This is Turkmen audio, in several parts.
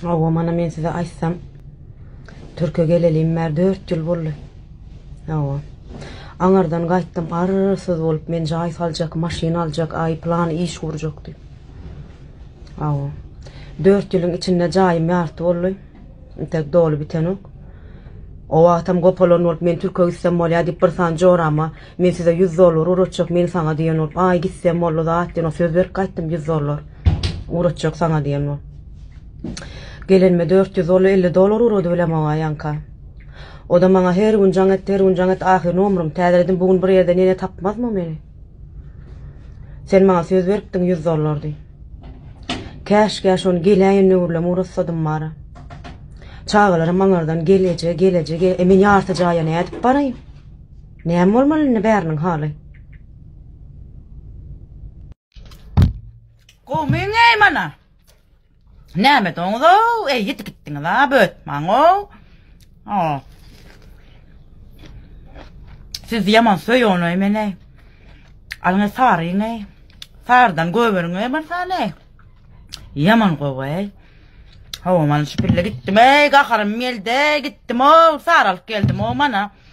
Hawa, mana men size aýtsam, Türkiýe gelelim bäri dört ýyl boldy. Hawa. Aňardan gaýtdym, arsyz bolup, men jaý saljak, maşyn aljak, aý plan iş gurjak diýip. Hawa. Dört ýylyň içinde jaýym ýarty boldy. Intek doly bitenok. O wagtam gopalan bolup, men Türkiýe gitsem bolýar diýip, bir sany jorama Men size ýüz dollar uratjak, men saňa diýen bolup, aý gitse molla zat diýen, söz berip gaýtdym ýüz dollar uratjak saňa diýen bolup. Gelenime dört ýüz dollar, elli dollar urady bilem oňa ýaňka. O-da maňa her gün jaň etdi, her gün jaň etdi, ahyr nomrym täzeledim, bu gün bir ýerde nene tapmazmy meni? Sen maňa söz beripdiň ýüz dollar diý. Käşgä şony geläýen nöwürlem uratsadym bara. Çagalarym aňardan gel eje, gel eje, gel, e men ýarty jaýa nädip baraýyn? Näme bolmaly indi bäriniň haly? Gowmyň-eý mana? Näme doňuz-ow, eý ýitip gitdiňiz-a, bötmaň-ow. O. Siz ýaman söýüň-eý meni. Alyň saryň-eý. Sardan göweriň-eý marsany. Ýaman gowy-eý. Hawa, mana şu pille gitdim-eý, gaharym geldi, gitdim-ow, saralyp geldim-ow mana.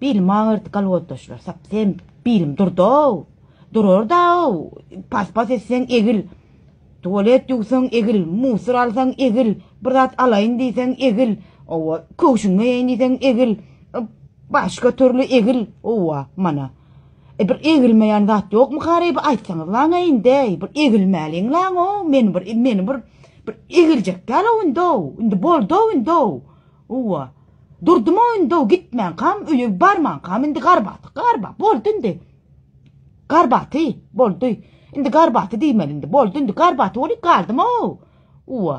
Bilim agyrt kalwotdaşlar sap sen bilim durdow durardaow pas pas etseň egil tualet ýuwsaň egil musur alsaň egil bir zat alaýyn diýseň egil owa köwşüňi eýeýin diýseň egil başga türli egil owa mana e bir egilmeýän zat ýokmykareý bir aýtsaňyz laňa indeý bir egilmäliň laňow meni bir meni bir bir egiljek dälow indow indi boldow indow Owa. Durdum oýunda-w gitmänkäm, öýe barmankäm indi garbaty, garba, boldy indi. Garbaty, boldy. Indi garbaty diýmeli indi, boldy indi, garbaty bolup galdym-ow. Owa.